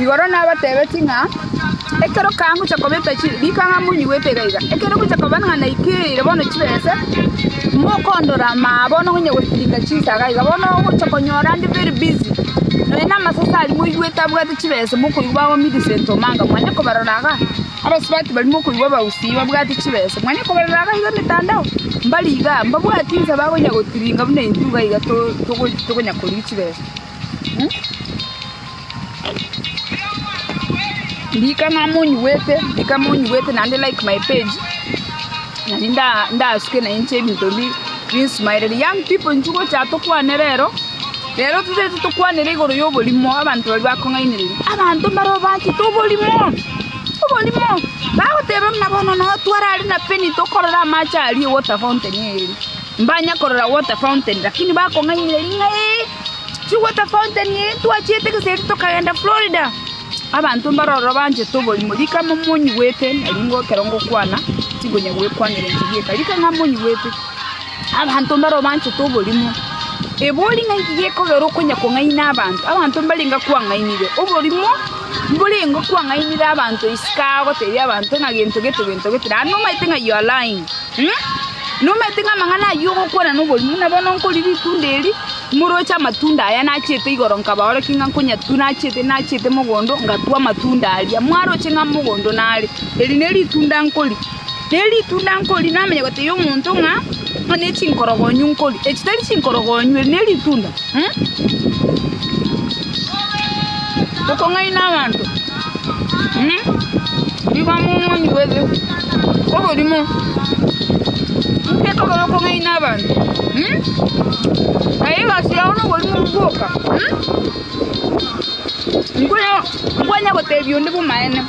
Igoro nabateebetie ng'a ekero kangocha kobeta riko ng'a monyigwete iga iga, ekero ngocha koba ng'a naikereire bono chibese, mokoondora ama aa bono ngonye gotirimia chinsaga iga, bono ogocha konyora nde very busy, nonya na amasese aria moigwete abwate chibese mokoigwa bagomirise ntoma anga mwane kobarora iga, abasubati baria mokoigwa abagusii babwate chibese mwane kobarora iga iga emetandao, mbari igaa, mbabwatie inse bakonya gotiringa buna intwe iga iga to- togo- tokonya korigia chibese. Ririkana monyigwete, ririkana monyigwete naende like my page. Nari nda- ndasuke na inche ebinto bi- binsumaereri. Young people inche gocha tokwane rero, rero totaete tokwanere igoro ya oborimo, abanto baria bakong'ainereria. Abanto mbaro bachete oborimo, oborimo. Bagoteba buna bono noo twarare na Penny tokorore amache aria e water fountain eye. Mbanya korora water fountain lakini bakong'ainereria ng'a eeh. Chigweta fountain eye ntwachiete egeseri tokagenda Florida. Abanto mbare ororo banchete oborimo rika mo monyigwete na ringo ekero ngokwana tinkonya gwekwanera enchera eka rika ng'a monyigwete. Abanto mbare ororo banchete oborimo. Ebori ng'a nki gekogera okonya kong'aina abanto. Abanto mbare ngakwang'ainire oborimo mbore ngokwang'ainire abanto isiko aa gotebia abanto ng'a gento gete gento gete naende omanyete ng'a you are lying. Nomanyete ng'a amang'ana ayio ogokwana noborimo, na bono nkorire itunda eri, moroche amatunda aya nachete igoro nkabaorokia ng'a nkonyatua nachete nachete mogondo ngatua amatunda aria, mwaroche ng'a mogondo nare, eri neri itunda nkoria. Neri itunda nkoria namanya gotebia omonto ng'a eri ne chinkorogonyo nkoria, echi tari chinkorogonyo eri neri itunda. Okong'aina abanto. Nigo amo omoni bw'obe oborimo, inche tokore okong'aina abanto. Aye egasi yao noborimo bwoka. Nkonya- nkonya gotebi onde bw'amaene.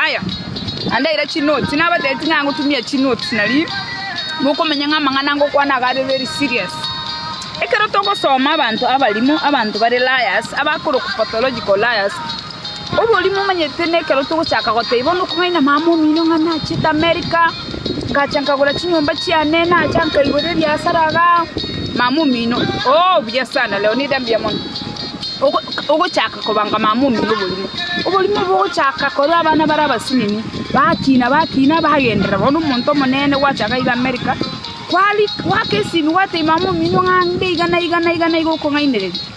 Aya, naende aira chinotes, nabatebi ting'ana gotumia chinotes nario, mokomenya ng'a amang'ana ngokwana iga are very serious. Ekero togosoma abanto abarimo, abanto bare liars, abakorokwa pathological liars. Oboria momanyete nekero togochaka goteba onde okong'aina mama omino ng'a nachete America, ngacha nkagora chinyomba chiane, nacha nkaigora ebiasara iga, mama omino ooh buya sana leo nida mbuya mono. Ogo ogochaka kobanga mama omino oborimo, oborimo obo ogochaka korwa abana bare abasinini, bakina bakina bagenderera bono omonto omonene gwachaka iga America, kwari gwaka esimi gwatebi mama omino ng'a nde iga na iga na iga na iga okong'ainereria.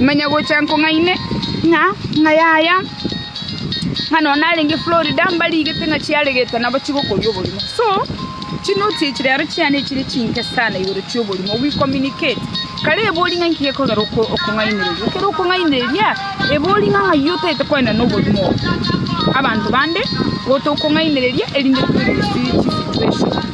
Manya gocha nkong'aine ng'a ng'ai aya, ng'a nonya narenge Florida mbarigete ng'a chiaregete nabo chigokoria oborimo. So, chinoti echi rero chiane chire chinke sana igoro chi'oborimo, we communicate. Kare ebori ng'a inki gekogera oko- okong'ainereria. Ekero okong'ainereria, ebori ng'a ng'ai otaete koenena oborimo obo, abanto bande, gotokong'ainereria erinde toirwe chi- chisituation.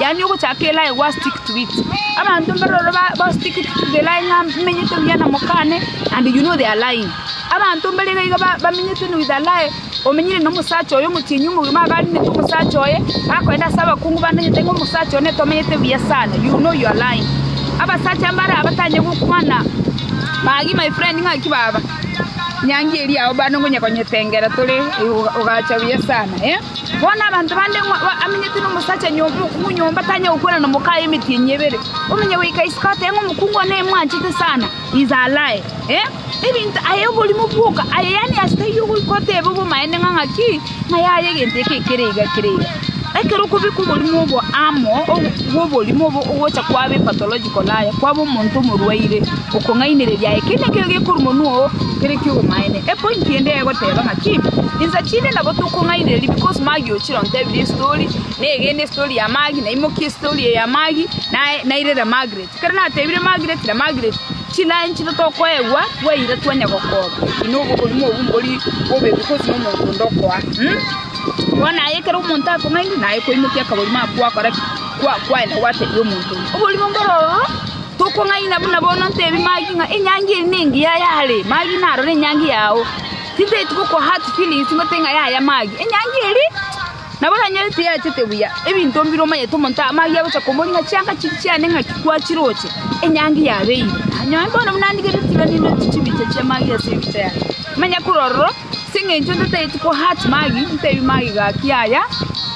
yaani ogochaka elaye gwa stick to it. Abanto mbaro ororo ba- ba stick it to the line ng'a menyete buya na mokane and you know their line. Abanto mbare iga iga ba- bamenyete na with a lie, omenyire na omosacha oyo omotienyi omogima iga arinete omosacha oye, akoenda ase abakungu bandenyete ng'a omosacha one tomenyete buya sana, you know your line. Abasacha mbare aba batanyare gokwana, magi my friend ng'aki baba, nyangi eria yao bande ngonya konyetengera tore, eh, oga- ogacha buya sana eh. Bono abanto bande ng'o amenyete nomosacha nyomba, mokungu nyomba, tanyare gokwana nomokaye emetienyi ebere? Omenye goika isiko atebe ng'a omokungu one imwanchete sana, inse alae. Eh, ebinto aye oborimo bwoka aye, yaani ase taiyo ogoika otebe obomaene ng'a ng'aki, ng'a yaya egento eke kere iga kere iga. Ekero okobeka oborimo obo amo, ogo bw'oborimo obo ogocha kwaba epathological. Kolaya kwaba omonto omorwaire, okong'ainereria aye kende nkere gekorwa monwa oo kere ki'obomaene. Epointi ende egoteba ng'aki insa chinde nabo tokong'ainereria because Maggie ochire ontebire estori, negende estori ya Maggie, naimokia estori eye ya Maggie, naye nairera Margaret. Ekero natebire Margaret na Margaret, chiline chiria tokoegwa twaira twanya gokoba, ina obo oborimo obwo mbori bobe because na omonto onde okoa. Bono aye ekero omonto akong'ainia, naye koimokia akaborimo ako gwakora ki? Kwaenda gwatebia omonto oria, Oborimo mbore ororo, tokong'aina buna bono ntebi Magi ng'a enyangi eye nengiya yare Magi naro nenyangi yao. Tintaeti gokoa hard feelings ngote ng'a yaya Magi enyangi eri, nabo yanyorete yachete buya ebinto mbire omanyete omonto aa Magi agocha komoria ng'a chianga chiria chiane ng'aki kwachiroche enyangi yabeire. Nonye bono buna ndigetie tirani ndoche chibicha chia Magi ase ebicha yane. Manya kore ororo. Ase engencho ntatageti ko hurt Maggie, ntebi Maggie gaki aya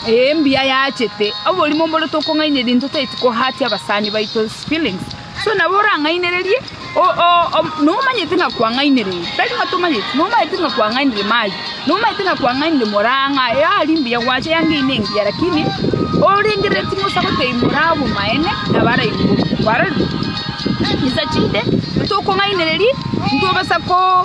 ee mbuya yachete, oborimo mbore tokong'ainereria ntotageti ko hurt abasani baito's feelings, so nabo orang'ainererie o- o- o- nomanyete ng'a kwang'ainereire, tari ng'a tomanyeti, nomanyete ng'a kwang'ainire Maggie, nomanyete ng'a kwang'ainire moraa ng'a yari mbuya gwacha yangeine engiya lakini orengereri timosa gotebi moraa obomaene nabo ara aiguru, kwarorire? Is a chinde, ntokong'ainereria, ntobasa ko.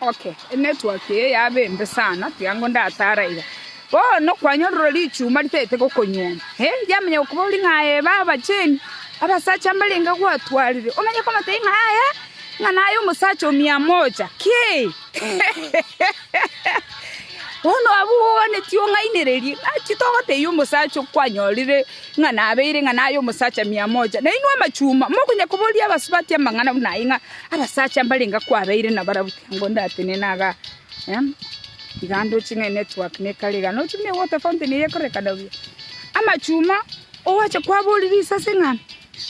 Oke, emetwaki eye yabe embe sana, tiga ngo ndatare aiga. Bono kwanyorire richuma ritagete gokonyuoma, eh, yamanya gokobori ng'a aye ebe abachenu, abasacha mbarenge gwatwarire, omanye komotebi ng'a aye, ng'a naye omosacha o Miamoja. Ki! Bono abwo bogwaneti ong'ainererie, ng'a titogotebia omosacha okwanyorire ng'a nabeire ng'a naye omosacha Miamoja, nainwe amachuma mokonya koboria abasubati amang'ana buna ayio ng'a Abasacha mbarenge kwabeire nabarabwo tiga ngo ndatenene aga, tiga ndoche ng'a enetwork nekare iga. Nochi buna ewater fountain eye ekorekana buya. Amachuma owacha kwaboria risase ng'a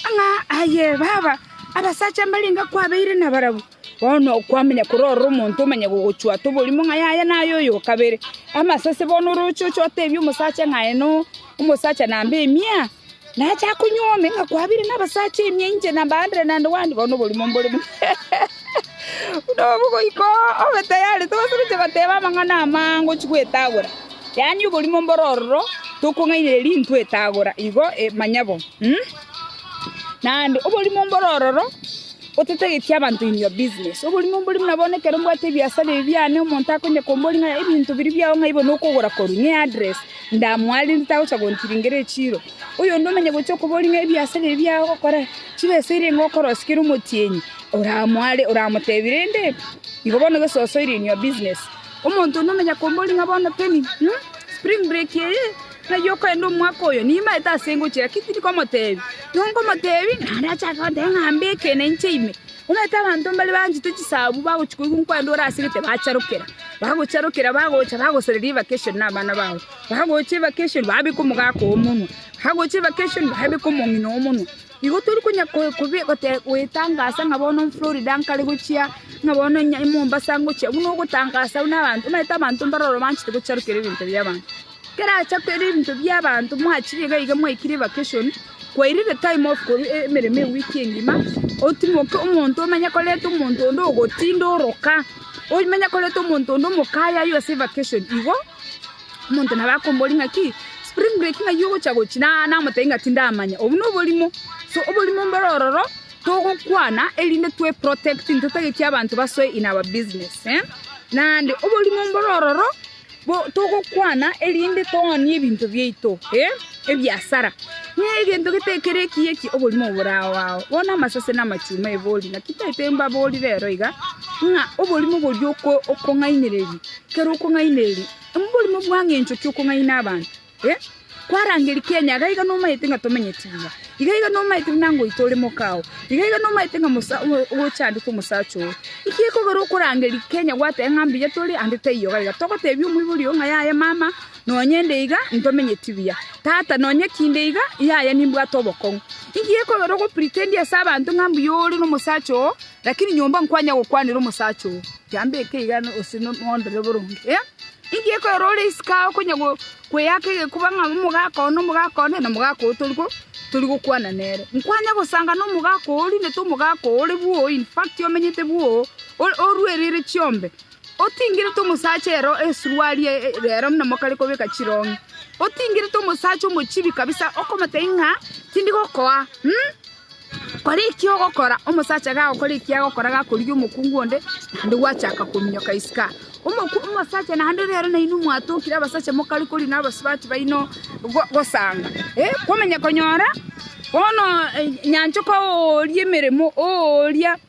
ang'a aye baba, abasacha mbarenge kwabeire nabarabwo, bono kwamanya kore ororo omonto omanye gogochwata oborimo ng'a yaya naye oyo okabere. Amasase bono oroche oche otebie omosacha ng'a aye no omosacha namba emia. Nacha konywa ime, ng'a kwabire nabasacha imia inche nambaandere naende gwandika bono oborimo mbore buna buna obo goika obe tayari. Togose gochia goteba amang'ana amange ochia gwetagora, yaani oborimo mbore ororo tokong'ainereria intwe etagora igo manya bo. Naende oborimo mbore ororo otatageti abanto in your business. Oborimo mbore buna bono ekero mbwate ebiasara ebi biane omonto akonye kombori ng'a ebinto biria biao ng'ai bono okogora korwa, ng'eaddress. Ndamwarerete tagocha gontiringeria echiiro. Oyonde omanye gochia okoboria ng'a ebiasare ebi agokora, chibesa eria nigo okorosia kera omotienyi oramware, oramotebie rende igo bono gese osoire in your business. Omonto onde omenya komboria ng'a bono teni, spring break eye, nayio okogenda omwaka oyo, nimaete ase ngochia, lakini tindi komotebia. Nigo nkomotebia, naende achake gontebia ng'a mbeke na inche ime. Omanyete abanto mbare banchete chisabu bagochia koigwa nkwande ore ase egete bacharokera, bagocharokera bagocha bagosoreria evacation na abana babo, bagocha evacation babeka omogaka oo omonwe, bagocha evacation babeka omong'ina oo omonwe. Igo tori konya ko- kobe- gote- goetangasa ng'a bono Florida nkare gochia, ng'a bono Mombasa ngochia, buna ogotangasa buna abanto, omanyete abanto mbare ororo banchete gocharokera ebinto bi'abanto. Keracha koira ebinto bi'abanto mwachire iga iga mwaikire vacation kwaira the time of korwa emeremo ewiki engima otimoke omonto omenye koreta omonto onde ogotinda oroka omenye koreta omonto onde omokaye aywo ase evacation igo omonto nabo akombori ng'aki spring break ng'ai ogocha gochi namotebi ng'a tindamanya obwo noborimo so oborimo mboro ororo togokwana erinde twe protect ntotageti abanto basoe in our business naende oborimo mboro ororo. togokwana erinde toonie ebinto biaito ebiasara, na egento getekera ekiya eki oborimo bore ao ao. Bono amasase na amachuma ebori, naki taete mbabori rero iga, ng'a oborimo boria okong'ainereria, ekero okong'ainereria, oborimo bwang'a enchoki okong'aina abanto. Eh, kwarangeria Kenya iga iga nomaete ng'a tomenyeti buya, iga iga nomaete buna ngoito ore mokao, iga iga nomaete ng'a mosa ogo- ogochandete omosacha oo. Naki ekogera okorangeria Kenya gwateba ng'a mbuya tore ande taiyo iga iga. Togotebia omoibori oo ng'a yaya mama nonye inde iga ntomenyeti buya, tata nonye ki inde iga yaya nimbwate obokong'u. Nki gekogera ogopretendia ase abanto ng'a mbuya ore nomosacha oo Lakini nyomba nkwanya gokwanera omosacha oo, Yambeke iga gose nondore boronge. Inki gekorera ore isiko aa okonya kweyaka egekuba ng'a omogaka one, omogaka one, na omogaka oo tori gokwana nere? Nkwanya gosanga nomogaka oo orindete omogaka oo ore bwoo, in fact omenyete bwoo, oruereire chiombe, otingerete omosacha ero esuruari ero buna mokare kobeka chirongi, otingerete omosacha omochibi kabisa, okomotebia ng'a tindi gokoa, Kora eki ogokora. Omosacha gagokora eki agokora gakorigia omokungu onde, naende gwachaka kominyoka isiko aa. Omoku- omosacha naende ore ere nainwe mwatokire abasacha mokare kori na abasubati baino go- gosanga. Eh, kwamanya konyora bono eh, nyanchoka ooria emeremo, ooria.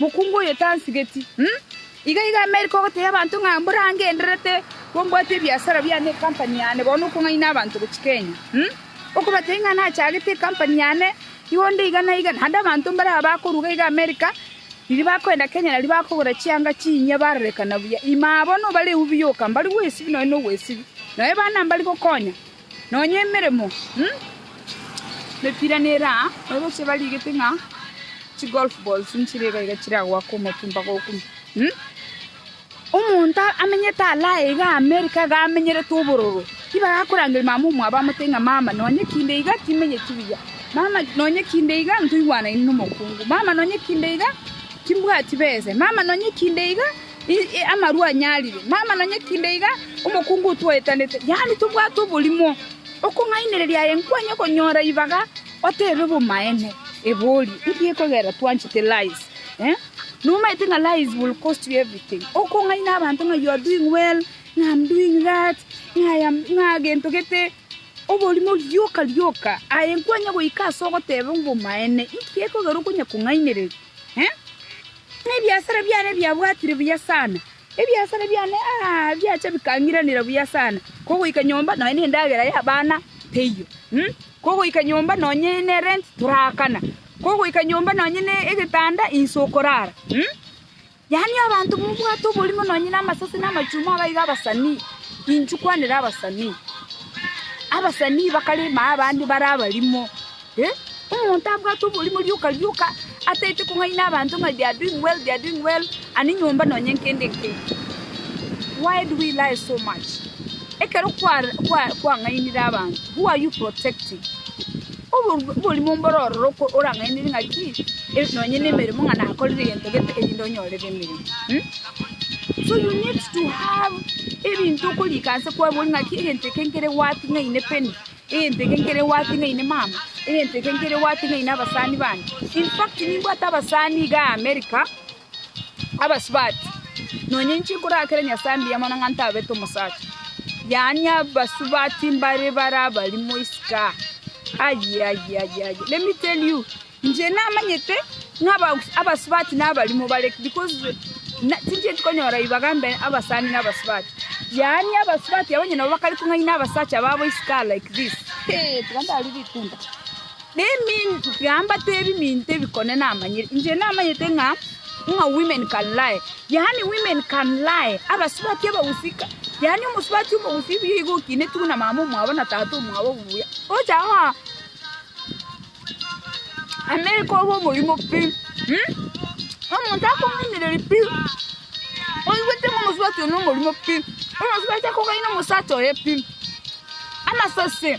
Mokungu oyo tansigeti. Iga iga Amerika ogotebia abanto ng'a mborangendererete bombwate ebiasara biane ne ekampani yane bono okong'aina abanto gochia Kenya. Okobatebia ng'a nachagete ekampani yane igo onde iga na iga, naende abanto mbaraba bakoruga iga Amerika, riria bakoenda Kenya nario bakogora chianga chinyia barorekana buya. Ime aa bono obareu biyoka, mbarigwe esibie nonya nobwesibie, nonya ebana mbari gokonya. Nonya emeremo mepira nere aa, nabochia barigete ng'a chigolf balls nchire iga iga chiragoaka omotumba gokuna. Omonto amenyete Alaya iga America iga amenyerete obororo, nigo akorangeria mamomwabo amote ng'a mama nonya kinde iga timenyeti buya, mama nonya kinde iga ntoigwanaine nomokungu, mama nonya kinde iga timbwati besa, mama nonya kinde iga. Inche amarwa anyarire, mama nonye kinde iga omokungu otwaetanete, yaani tobwate oborimo, okong'ainereria aye nkwanye konyora ibaga oteebe bomaene. Ebori, ngiye kogera twanchete lies eh? Nomaete ng'a lies will cost you everything. Okong'aina abanto ng'a you are doing well, ng'a I'm doing that, ng'a I am ng'a gento gete. Oborimo rioka rioka aye nkwanye goika ase ogoteba obomaene. Ngiye kogera okonya kong'ainereria. Ebiasara biane biabwatire buya sana, ebiasara biane biacha bikang'iranera buya sana, kogoika nyomba nonya nendagera y'abana teiyo, kogoika nyomba nonya nerenti toraakana, kogoika nyomba nonya negetanda inse okorara. Yaani abanto mobwate oborimo nonye namasase na amachuma aba iga abasani, inchuo kwanera abasani. Abasani bakarema abande bare abarimo. Eh, omonto abwate oborimo rioka rioka ataete kong'aina abanto ng'a they are doing well, they are doing well, ani nyomba nonye nkende nke. Why do we lie so much? Ekero kwa kwa kwang'ainire abanto, who are you protecting? Oborimo mbore ororo orang'ainerie ng'aki nonye nemeremo ng'a nakorire egento gete erinde onyorere emeremo. So you need to have ebinto okorika ase kwabori ng'aki egento eke nkere worthy ng'aine Penny, egento eke nkere worthy ng'aine mama, egento eke nkere worthy ng'aine abasani bane. In fact nimbwate abasani iga America. abasubati, nonya inche inkorakera Nyasae mbuya mono ng'a ntabete omosacha, yaani abasubati mbare bare abarimo isiko aa, ayii ayii ayii ayii let me tell you inche namanyete ng'a abas abasubati na abarimo bare because na tincheti konyora ribaga mbe abasani na abasubati, yaani abasubati abwo onye nabo bakare kong'aina abasacha babo isiko aa like this, hee tiga ndare ritunda. Neminto biambato ebiminto ebikone namanyire, inche namanyete ng'a ng'a women can lie, yaani women can lie, abasubati abagusika, yaani omosubati omogusii buya iga okineti buna mama omwabo na tata omwabo buya, ocha goa America obe omorimo pi, omonto akomoimereri pi, oigwete ng'a omosubati oyo nomorimo pi, omosubati akogaina omosacha oye pi, amasase.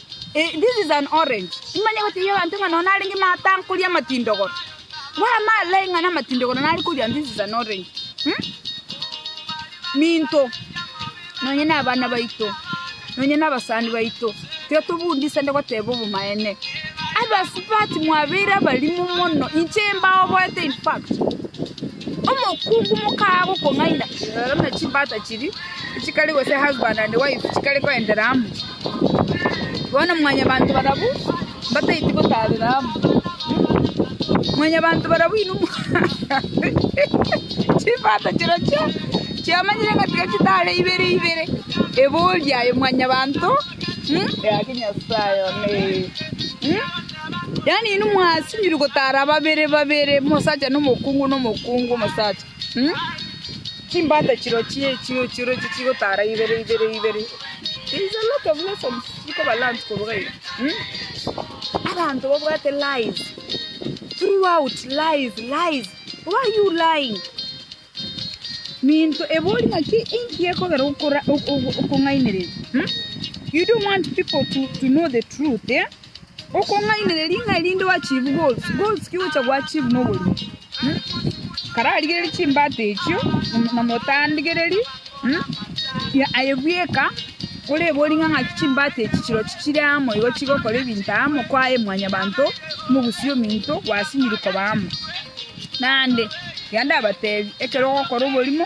This is an orange nimanye goteebia abanto ng'a nonya narenge matankoria amatindogoro bwama like ng'a namatindogoro nare koria this is an orange minto nonya nabana baito nonya nabasani baito tiga tobundisane goteeba obomaene abasubati mwabeire abarimo mono inche mbaoboete in fact omokungu mokaga gokong'aina rora buna chimbata chiria chikare gose husband and wife chikare koendera amo. Bono mwanyabanto barabwo mbataeti gotaarera amo. Mwanyabanto barabwo inwe mwa- chimbata chirochio chiamanyire ng'a tiga chitaare ibere ibere, ebori aye mwanyabanto, mm, yake Nyasaye one, mm. Yaani inwe mwasinyirwe gotaara babere babere, omosacha na omokungu na omokungu omosacha. Chimbata chirochio echio chirochio chigotara ibere ibere ibere. There is a lot of lessons chikoba learnt koruga iga. Abanto babwate lies throughout lies lies. Why you lying? Minto ebori ng'aki inki ekogera okora- ok- ok- okong'ainereria? Hmm? You don't want people to, to know the truth, eh? Okong'ainereria ng'a erinde oachieve goals, goals ki ogocha goachieve na oborimo? Mh? Kararigererie chimbata echio na- na motandigereri mh? Ya- aye bweka orebori ng'a ng'aki chimbata echi chirochio chire amo igo chigokora ebinto amo kwaye mwanyabanto mogusie ominto gwasinyiri koba amo. Naende ekiagera ndabatebi ekero ogokora oborimo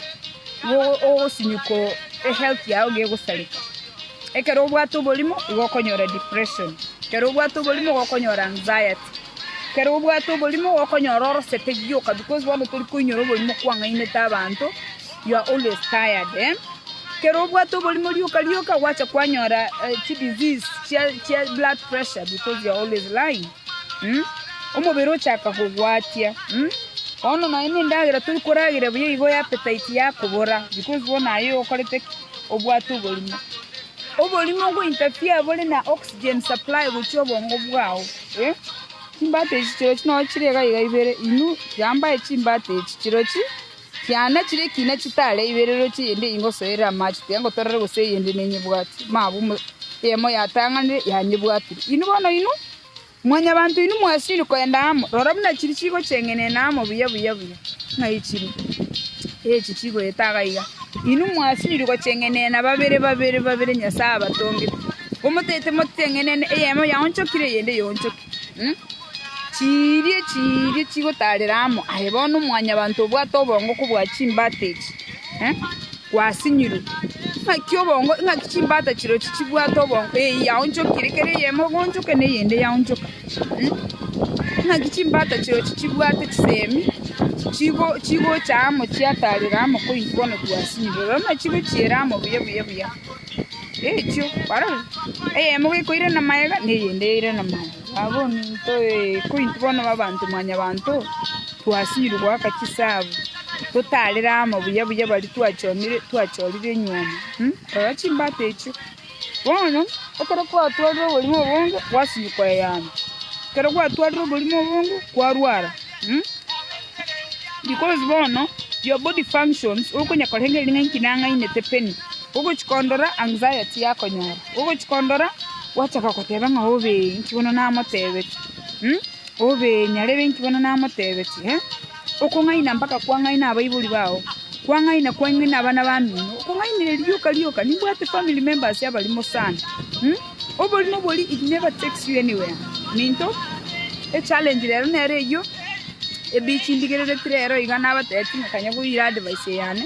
igo ogo- ogosinyuka o- ehealth yago gegosareka. Ekero obwate oborimo igo okonyora depression, ekero obwate oborimo igo okonyora anxiety, ekero obwate oborimo igo okonyora orosete rioka because bono tori koinyora oborimo kwang'ainete abanto, you are always tired eh. Ekero obwate oborimo rioka rioka gwacha kwanyora chi disease chia chia blood pressure because you are always lying mh, omobere ochaka kogwatia mh. Bono nonya na endagera tori koragera buya igo appetite yakobora because bono aye okorete ki? obwate oborimo. Oborimo go interfere bore na oxygen supply gochia obongo bwao. Chimbata echi chirochio nonya chire iga iga ibere inwe chiambae chimbata echi chirochio chiane chire ekina chitare ibere rochio eyende eye ngosoere amache tiga ngotorere gose eyende nenyebwati mabu eyemo yatang'anire yanyebwatire inwe bono inwe Mwanyabanto inwe mwasirie kogenda amo, rora buna chiri chigochengenena amo buya buya buya, ng'a echi chiri, na echi chigoeta iga iga. Inwe mwasirie gochengenena babere babere babere Nyasae abatongete, omotaete mochengenene eyemo yaonchokire eyende eyoonchoke. Chiiria chiiria chigotaarera amo aye bono, Mwanyabanto obwate obongo kobua chimbata echi. gwasinyirwe, ng'aki obongo, ng'aki chimbata chirochio chibwate obongo, eyio yaonchokire, kera eyemo egonchoka na eyende yaonchoka. Ng'aki chimbata chirochio chibwate chisemi, chigo chigocha amo chiatarire amo koyi bono gwasinyirwe, rora buna chigochiera amo buya buya buya, echio, kwarorire? Eyemo gekoirana magega, na eyende yairana magega. Abominto ee, ko intwe bono abanto mwanyabanto twasiirwe goaka chisaabo, totarire amo buya buya baria twachomire twachorire enyuoma? Rora chimbata echio! Bono, ekero kwatwarire oborimo obonge, gwasinywa koyeyana, ekero gwatwarire oborimo obonge, kwarwara. Because bono your body functions, okonya korengereria ng'a inki nang'ainete penny, ogochia kondora anxiety yakonyora. Ogochia kondora, gwachaka goteba ng'a obe inki bono namotebetie, obe nyarebe inki bono namotebetie, okong'aina mpaka kwang'aina abaibori bao, kwang'aina kwang'aina abana bamino, okong'ainire rioka rioka, nimbwate family members abarimo sana, oborimo bori it never takes you anywhere minto, echallenge rero nero eyio, ebichi ndigereretie rero iga nabatebetie ng'a kanya goira advice eyane.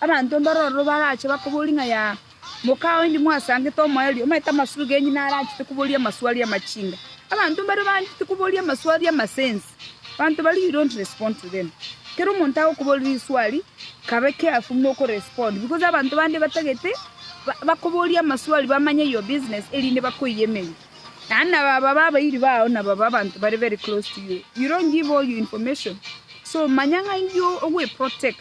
Abanto mbaro ororo barache bakoborie ng'a ya, Mokao indi mwasangete omoerio, omanyete amasuro genyu naro anchete koboria amaswali amachinga. Abanto mbare banchete koboria amaswali amasense, abanto baria you don't respond to them. Kera omonto agokoboria riswali, kabe careful buna oko respond because abanto bande batagete bakoborie amaswali bamanye your business erinde bakoyie emeyo. Naende nabo aba babe abairi bao nabo aba abanto bare very close to you. You don't give all your information. So manya ng'a inki ogweprotect.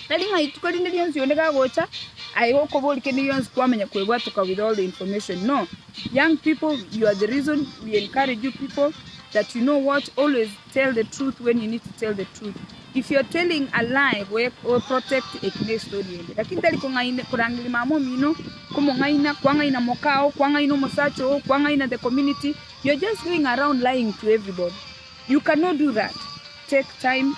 Tari ng'a rituko rinde rionsi onde gagocha aye gokobori kende gionsi kwamanya kwebwatoka with all the information no young people you are the reason we encourage you people that you know what always tell the truth when you need to tell the truth if you are telling a lie we we protect eki ne story ende lakini tari kong'aina korangeria mama omino komong'aina kwang'aina moka oo kwang'aina omosacha oo kwang'aina the community you are just going around lying to everybody you cannot do that take time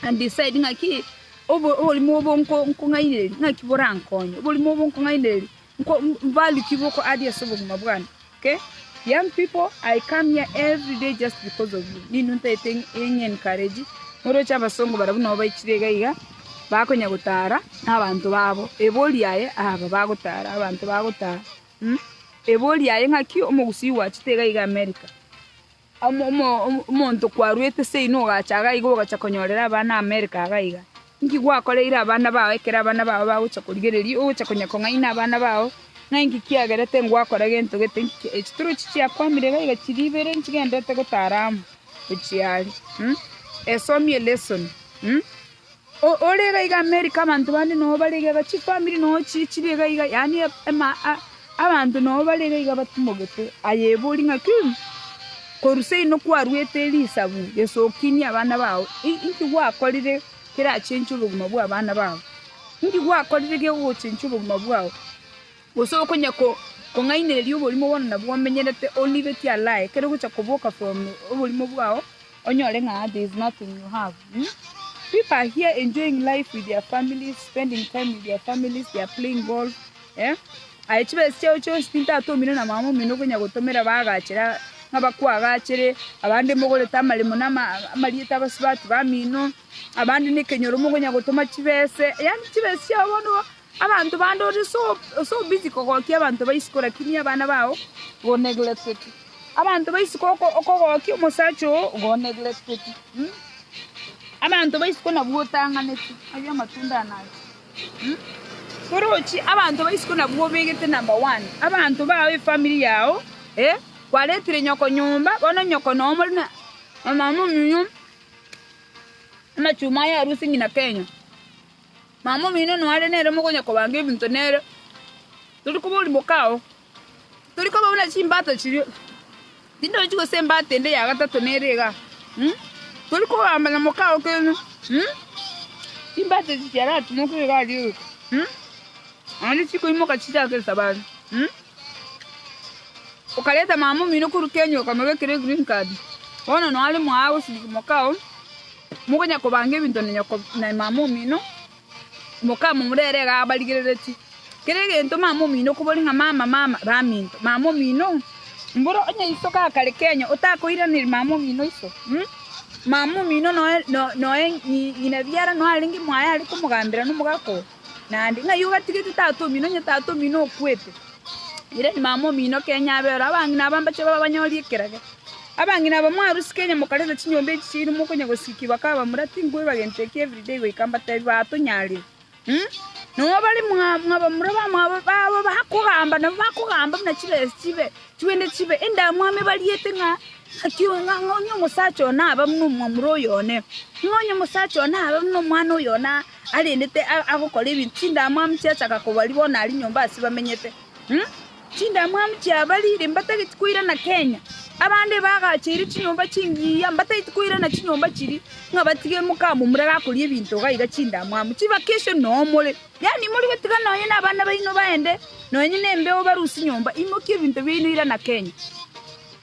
And he said, ng'aki obo- oborimo obo nko- nkong'ainereria, ng'aki borankonye, oborimo obo nkong'ainereria, nko- m- value ki boko add ase obogima bwane? Okay? Young people, I come here every day just because of you. Ninwe ntagete eng- eng' encourage, moroche abasongo barabwo nabo baichire iga iga, bakonya gotara na abanto babo, ebori yaye aba bagotara, abanto bagotara, mm? Ebori yaye ng'aki omogusii gwachete iga iga America, omonto kwarwete seino ogacha iga iga ogacha konyorera abana America iga iga. Inki gwakoreire abana bao ekero abana bao bagocha korigereria ogocha konya kong'aina abana bao, ng'a inki kiagerete ngwakora gento gete inki ki. Echi torochi chiakwamire iga iga chiria ibere nchigenderete gotara amo gochia aria. Esomie lesson. Ore iga iga Amerika abanto bande nao bare iga iga, chifamiri nao chire chire iga iga, yaani abanto nao bare iga iga batimogete. Aye ebori ng'a ki? Korusia inwe kwaruete risabu risokinie abana bao? Inki gwakorire kerachenche obogima bw'abana bao? Inki gwakorire ki'ogochenchia obogima bwao? Gose okonya kong'ainereria oborimo bono nabwo omenyerete onibetie alaa ekero ogocha koboka from oborimo bwao onyore ng'a there is nothing you have um People are here enjoying life with their families, spending time with their families, they are playing golf eh Aye chibesa chiao chionsi tintatomire na mama omino okonya gotomera baagachera ng'a bakwagachere, abande mogorete amaremo na amarieta abasubati bamino, abande nekenyoro mokonya gotoma chibese, yaani chibesa chiao bono Abanto bande ore ase obisi kogokia abanto ba isiko lakini abana bao o neglecteti, abanto ba isiko okogokia omosacha oo o neglecteti. Abanto ba isiko nabwo otang'aneti, ayio amatunda aane aye. Torochi abanto ba isiko nabwo obegete number one, abanto bao efamiri yao, eh, kwaretire nyoko nyomba, bono nyoko noo more na omama omuya, amachuma aye arue ase ng'ina Kenya. Mama omino noare nere mogonyakobanga ebinto nere, tori koba orimoke ao. Tori koba buna chimbato chiria, tindochi gose embato ende ya gatato nere iga. Tori kogamba na moke ao kende, chimbato echi chiaratimoke iga aria iga, naende chikoimoka chichake esabari. Okareta mama omino korwa Kenya okamorwa ekero e green card, bono noo are mooo agosirigwa mokao, mokonya kobanga ebinto na nyoko na mama omino, mokao momorere igaa abarigereretie. Kera egento mama omino okobori ng'a mama mama baminto, mama omino mboro onye iso gaa kare Kenya otakoiraneri mama omino iso mh, mama omino noe no noe nyi nyina biara noo arenge mwaye are komogambera na omogaka oo. Naende ng'ai ogatigete tata omino onye tata omino okwete, ere ni mama omino kenya abe oro, abang'ina aba mbache babe abanyori ekerage. Abang'ina aba mwarusike onye mokareta chinyomba echi chiaino mokonya gosikia bakabamura, tinkoiba gento eke everyday goika mbatebi batonyarire. Umm. Noo bare mwa mwabamura bamwabo babo bakogamba nabo bakogamba buna chibesa chibe chibende chibe endamwamu amo ebariete ng'a ng'aki oo ng'a ng'a onye omosacha oo naba buna omwamura oyo one, ng'a onye omosacha oo naba buna omwana oyo one aa. Arendete agokora ebinto chindamwamu chiachaka kobari bono ari nyomba ase bamenyete. Chindamwamu chiabarire mbatageti koirana Kenya. Abande bagacheire chinyomba chingiya mbatageti koirana chinyomba chiri ng'a batige mokamomura gakoria ebinto iga iga chindamwamu chibakesio noo more. Yaani mori gotiga nonye na abana baino baende nonye na embeo barusie nyomba imokie ebinto biaino irana Kenya.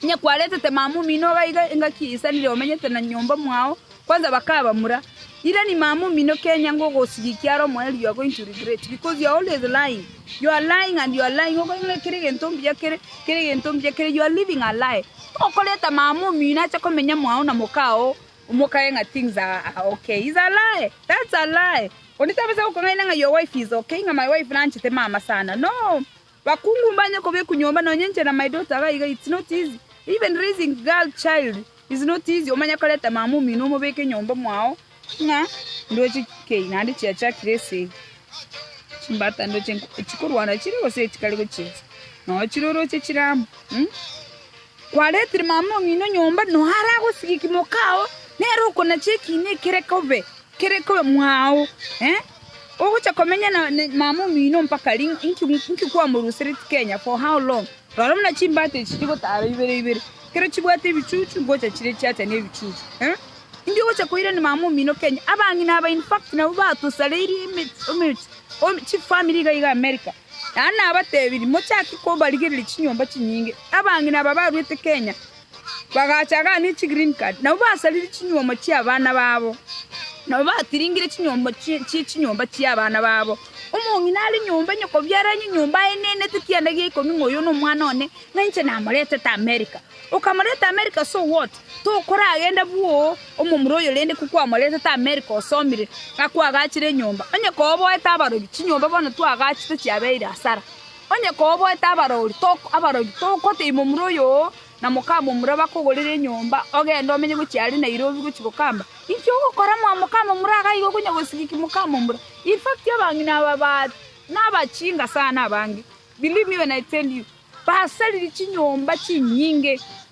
Onye kwaretete mama omino iga iga engaki yaisanire omenyete na nyomba mwao Kwanza bakabamura, Irani mama omino kenya ngogosigia ekiara omoyo riogo into regret, because you are always lying, you are lying and you are lying okoira ng'a kera egento mbuya kere, kera egento mbuya kere, you are living a lie. Tokoreta mama omino ache komenya mwao na mokao omokae ng'a things are are okay, is a lie, that's a lie. Onde tabasa gokong'aina ng'a your wife is okay, ng'a my wife nanchete mama sana, no! Bakungu mbanye kobekwa nyomba nonye inche na my daughter iga iga it's not easy even raising girl child is not easy omanye koreta mama omino omobeke nyomba mwao ng'a ndoche kei naende chiachakire ase eye chimbata ndoche nko chikorwana chire gose echikare gochinsa noo chire oroche chire amo mh kwaretire mama omino nyomba noo aragosigia ekimo kao nere okonacha ekina ekere kobe kere kobe mwao eh. Ogocha komenya na mama omino mpaka ri? Inki kwamorusereti Kenya? For how long? Rora buna chimbata echi chigotara ibere ibere, ekero chibwate ebichuchu ngocha chire chiacha nebichuchu. Eh? Inki ogocha koirani mama omino Kenya? Abang'ina aba in fact nabwo batosareirie chifamiri iga iga America. Naende nabatebirie, mochake kobarigereria chinyomba chinyinge. Abang'ina aba baruete Kenya, Bagachaga ne chigreen card, nabo basarire chinyuomo chi'abana babo, nabo batiringire chinyuomo chi chi chinyomba chi'abana babo. Omong'ina are nyomba onye kobiara onye nyomba aenenete kianda gia ikomi ng'a oyo nomwana one, ng'a inche namoretete America. Okamoreta America so what? Tokoragenda bwoo omomura oyo rende ko kwamoretete America osomire ng'a kwagachire enyomba. Onye koboete abarobi, chinyomba bono twagachete chiabeire asara. Onye koboete abarori, tokotebi momura oyo oo na mokamomura bakogorere enyomba, ogende omenye gochia aria Nairobi gochia gokamba. Inki ogokora mwa mokamomura iga igo konya gosigiki mokamomura? In fact abang'ina aba baria nabachinga sana abange, believe me when I tell you, basariri chinyomba chinyinge.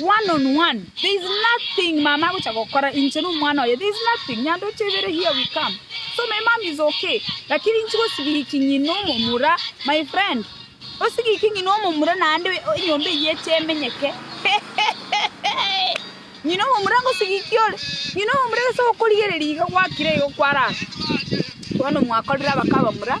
One on one. There is nothing mama agocha gokora. Inche no mwana oye. There is nothing. Nyandoche ibere here we come. So my mom is okay. Lakini inchi gosigiki ng'ina omomura. My friend. Osigiki ng'ina omomura naende enyomba eye eche emenyeke. Ng'ina omomura ngosigiki ore. Ng'ina omomura gese okorigereria iga gwakire igo kwarara. Bono mwakorire abaka abamura.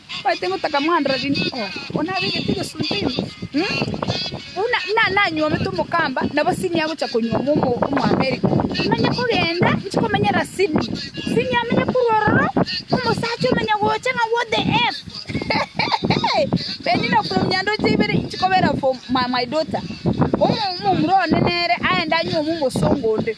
Omanyete ngotaka mwandora rinde oo, oyo nabegete egesunte ime, buna nanyuomete omokamba, nabo Sydney agocha konyuoma Omoamerica. Timanye kogenda inche komenyera Sydney. Sydney amenye korwa ororo, omosacha omenya gocha ng'a what the F. Penina from Nyandoche ibere inche kobera for my daughter. Omomura one nere aende anyuome omosongo onde.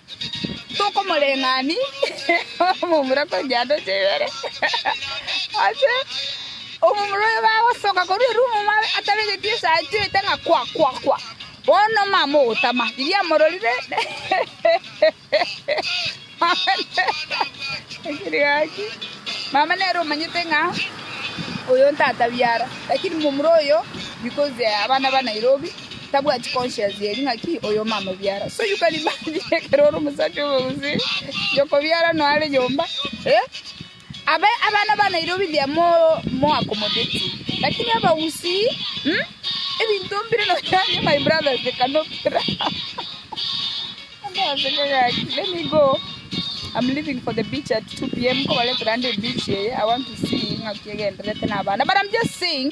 Tokomoreng'ania omomura korwa chianda chia ibere, ase omomura oyo bagosoka korwa erumu mare atabegeti esaati oete ng'a kwa kwa kwa, bono omama ogotama riria amororire akire gaki, mama nere omanyete ng'a oyo ntatabi ara, lakini momura oyo because abana ba Nairobi. Tabwati conscience eri ng'aki oyoma amobiara so you can imagine ekero ore omosacha omogusii yokobiara noyo are nyomba eh abe abana ba Nairobi they are more more accommodating lakini abagusii mm? ebinto mbire nonyanye my brothers they cannot Ndaseka gaki. Let me go. I'm leaving for the beach at 2 p.m. Kobaletera ande beach eye. I want to see ng'aki egenderete na abana. But I'm just saying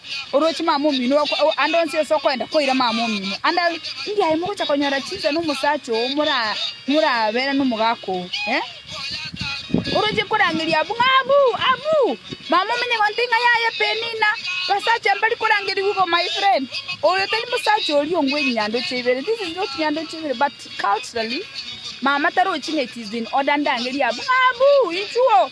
Oroche mama omino oko ande onsi ase okoenda koira mama omino ande abe India aye mogocha konyora chinsa na omosacha oo mora morabera na omogaka oo eh? Oroche korangeria abwo ng'a abu abu mama omino egonte ng'a yaya Penina basacha mbari korangeria igo my friend oyo tari mosacha oria ongwe nyandoche ibere this is not nyandoche ibere but culturally mama tarochi ng'a it is in order ndangerie abwo ng'a abu inchuo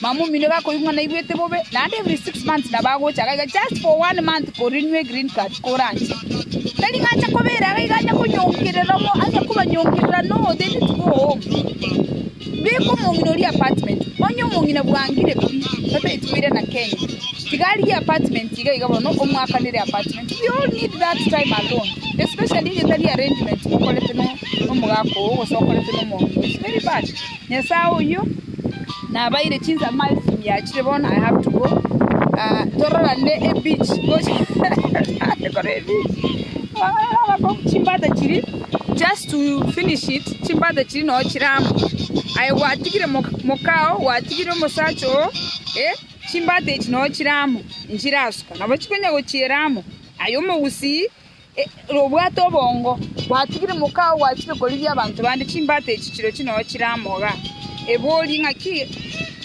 Mamumino bakoigwa naigwete bobe, naende every six months nabagocha iga iga just for one month ko renew a green card koranche. Tari ng'a anche kobera iga iga anya konyonkerera omo anya kobanyonkerera no they need to go home. Beka omong'ina oria apartment, onye omong'ina bwangire pi tata eye tibere na Kenya. Tiga arigie apartment iga iga bono omwakanere apartment. We all need that time alone especially onye tari arrangement mokorete no nomogaka oo gose okorete nomong'ina oo it's very bad. Nyasae oyio nabaire chinsa miles miachire bono I have to go ah, tororane ebeach gochi kore ebeach Ororo abako chimbata chiri just to finish it chimbata chiri no chiramo aye gwatigire mo- mokao gwatigire omosacha oo eh chimbata echi no chiramo nchirasuka nabo chikonya gochieramo aye omogusii Ere obwate obongo, gwatigire mokao gwachire korigia abanto bande chimbata echi chire chinono chire amo iga. Eborie ng'aki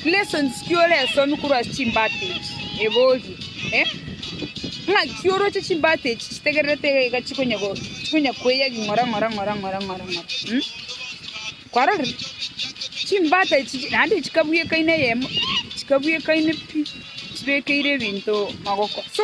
lessons ki oresomia korwa ase chimbata echi. Eborie, Ng'aki oroche chimbata echi chitegererete iga iga chikonya chikonya koeya ring'ora ng'ora ng'ora ng'ora ng'ora ng'ora? Kwarorire? Chimbata echi naende chikabwekaine eyemo chikabwekaine pi, chibekeire ebinto magoko. So,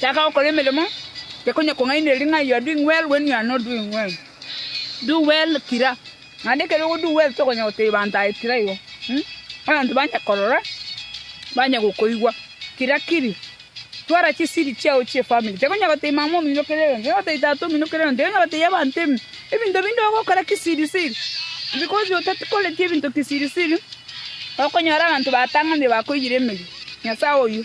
Taka gokora emeremo, tekonyakong'aineria ring'ai you are doing well when you are not doing well. Do well kira, naende ekero ogo do well tokonya gotebia banto aye kira igo um abanto banye korora, banye gokoigwa kira kiri. Twara chisiri chiao chie family, tekonya gotebia mama omino kera egento, tekonya gotebia tata omino kera egento, tekonya gotebia abanto emi ebinto binde ogokora kisiri siri, because otakoreti ebinto kisiri siri, okonyora abanto baatang'anire bakoiyire emeria. Nyasae oyio,